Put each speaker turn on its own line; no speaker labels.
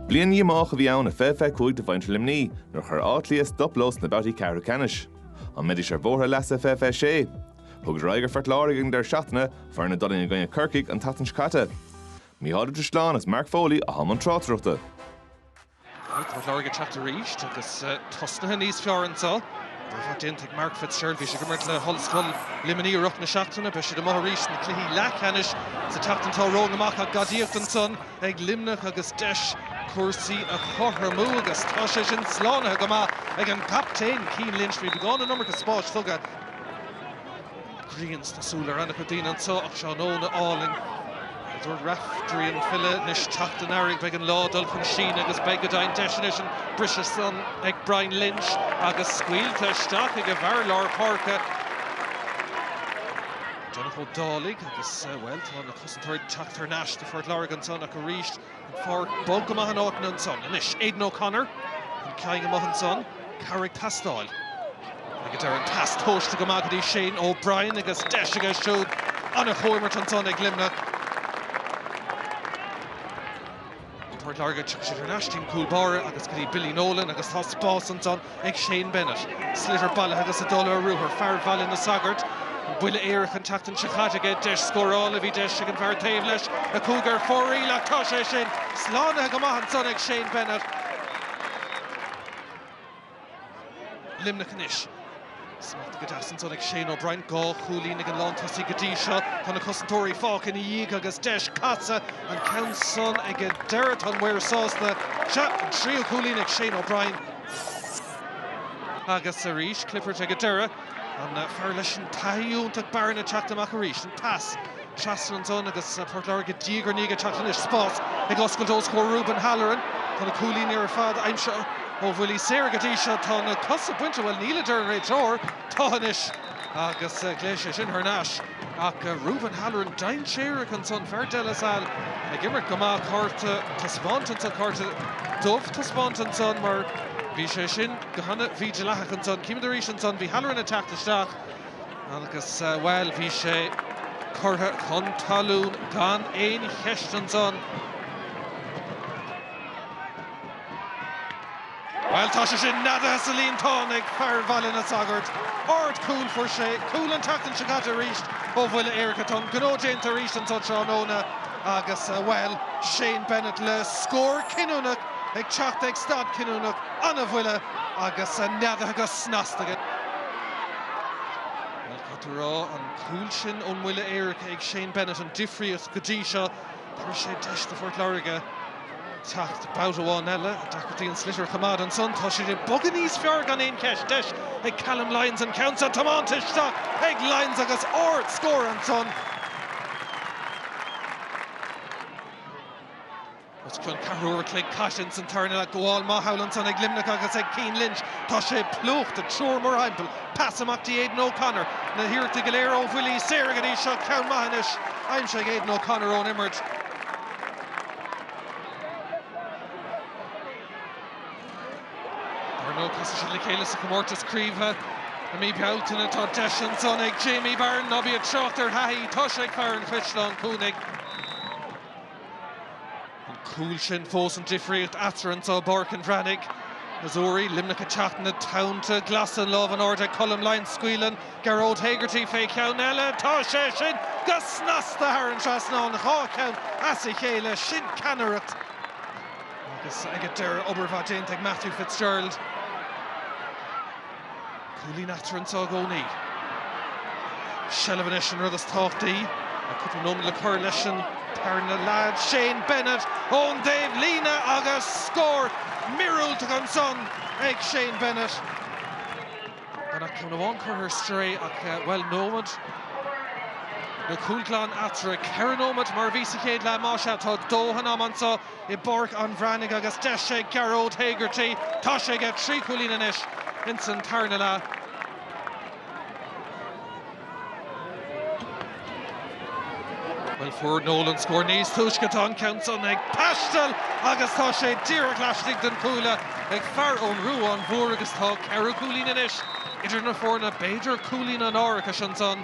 Bliain dhíomách a bhí ann a fiche fiche cúig do mhuintir Luimnigh nuair a chuir Áth Cliath stop leo sna babhtaí ceathrú ceannais. An mbeidís ar bhóthar a leasa fiche fiche sé? Thugadar aghaidh ar Phort Láirge ag an deireadh seachtaine, foireann a d'fhulaing i gcoinne Corcaigh an tseachtain seo caite. Micheál Ó Drisleáin is Mark Foley atá i mbun tráchtaireachta.
Tá Port Láirge ag teacht arís agus tosnaithe níos fearr anseo. Dearmad déanta ag Mark Fitzgerald, bhí sé ag imirt le hOllscoil Luimnigh i rith na seachtaine. Beidh siad amuigh arís sna cluichí leathcheannais sa tseachtain atá romhainn amach. Ach gadaíocht ansan ag Luimneach agus deis cúrsaí a chothromú agus tá sé sin slánaithe go maith ag an gcaptaen Cian Lynch. Bhí beagán an iomarca spáis tugtha. Grian sna súile ar an-chuid daoine anseo ach tráthnóna álainn, a dúirt Raiftearaí an file. Anois teacht an earraigh beidh an lá ag dul chun síneadh agus beidh go deimhin deis anois an briseadh san ag Brian Lynch agus scaoilte isteach ag an bhfear lár páirce, Donncha Ó Dálaigh agus, bhuel, tá na cosantóirí ag teacht thar n-ais do Phort Láirge ansan ach arís, An pháirc bog go maith in áiteanna ansan anois. Aidan O'Connor, an ceann amach ansan, cabhair ag teastáil. Ag an deireadh an pas tomhaiste go maith go dtí Shane O'Brien agus deis aige siúd an-chomhimirt ansan ag Luimneach. Ach Port Láirge, tiocfaidh sé thar n-ais dtí an cúl báire agus go dtí Billy Nolan agus tá spás ansan ag Shane Bennett. Sliotar bailithe agus ag dul ar ruathar, fear Bhaile na Sagart, buille éirice an tseachtain seo caite aige, deis scórála, bhí deis ag an bhfear taobh leis a chuaigh ar fóraoil, ach tá sé sin slánaithe go maith ansan ag Shane Bennett. Luimneach anois. Smacht go deas ansan ag Shane O'Brien, dhá chúilín ag an lántosaí go dtí seo. Tá na cosantóirí fágtha ina dhiaidh agus deis casadh, an ceann san ag an deireadh. Tá an maor sásta. Sea, an tríú cúilín ag Shane O'Brien. Agus arís Clifford ag an deireadh. An fear leis an taithí iontach Barron ag teacht amach arís. An pas. trasna ansan agus Port Láirge diaidh ar ndiaidh ag teacht anois. Spás ag oscailt os comhair Reuben Halloran. Tá na cúilíní ar fad aimsithe ó bhuillí saora go dtí seo. Tá na cosa bainte, bhuel, níl, a deir an réiteoir. Tá anois! Agus glaodh sé sin thar n-ais ach Reuben Halloran dainséarach ansan. Fear De La Salle ag imirt go maith. Cárta taispeáinte ansan, cárta dubh taispeáinte ansan mar bhí sé sin go hana-mhídhleathach ansan. Címid arís ansan, bhí Halloran ag teacht isteach. Agus, bhuel, bhí sé curtha chun talún gan aon cheist ansan. Bhuel, tá sé sin neadaithe sa líontán ag fear Bhaile na Sagart. Ard cúl. Fuair sé cúl an tseachtain seo caite arís ó bhuille éirice. Tá an gnó déanta arís anseo tráthnóna agus, bhuel, Shane Bennett le scór cinniúnach ag teacht ag stad cinniúnach. An-bhuille agus neadaithe go snasta aige. Bhuel, cad tá rá? An cúl sin ón mbuille éirice ag Shane Bennett an difríocht go dtí seo. Tabharfaidh sé deis do Phort Láirge teacht babhta amháin eile, dá bhféadfaí an sliotar a choimeád. Ansan tá siad ag bogadh níos fearr gan aon cheist. Deis ag Calum Lyons an ceann seo tiomáinte isteach ag Lyons agus ard-scór ansan. Os cionn ceathrú uair a chloig caite ins an tarna leath, gabháil mhaith thall ansan ag Luimneach agus ag Cian Lynch, tá sé plúchta, triúr mórthimpeall, pas amach dtí Aidan O'Connor, na hiarrachtaí go léir ó bhuillí saora go dtí seo, ceann maith anois aimsithe ag Aidan O'Connor ón imirt. Ar ndóigh casfaidh siad le chéile sa chomórtas craoibhe i mí Bealtaine, tá deis ansan ag Jamie Barron, ná bí ag trácht ar thaithí tá sé ag fear an Chaisleáin Cuanaigh. An cúl sin fós an difríocht eatarthu anso i bPáirc an Bhreathnaigh. Seo arís Luimneach ag teacht, na tonnta glasa an lámh in airde ag Colm Lyons, scaoileann Gearóid Hegarty fé cheann eile, tá sé sin go snasta thar an trasnán, dhá cheann as a chéile, sin ceannaireacht agus ag an deireadh obair mhaith déanta ag Matthew Fitzgerald. Cúilín eatarthu anso i gcónaí. Seilbh anois an rud is tábhachtaí. Tá cúpla nóiméad le cur leis an tarna leath. Shane Bennett ón dtaobhlíne agus scór míorúilteach ansan ag Shane Bennett. Gan ach ceann amháin curtha ar strae ach, bhuel, nóiméad nó cúl glan eatarthu. Ceithre nóiméad mar a bhí sa chéad leath, más ea. Tá dóthain ama anso. i bPáirc an Bhreathnaigh agus deis ag Gearóid Hegarty, tá sé aige trí chúilín anois ins an tarna leath. Bhuel, fuair Nolan scór níos túisce, tá an ceann san ag taisteal agus tá sé díreach laistigh den chuaille ag fear ón Ruán Mhór agus tá ceithre chúilín anois idir na foirne, b'fhéidir cúilín an árachais ansan.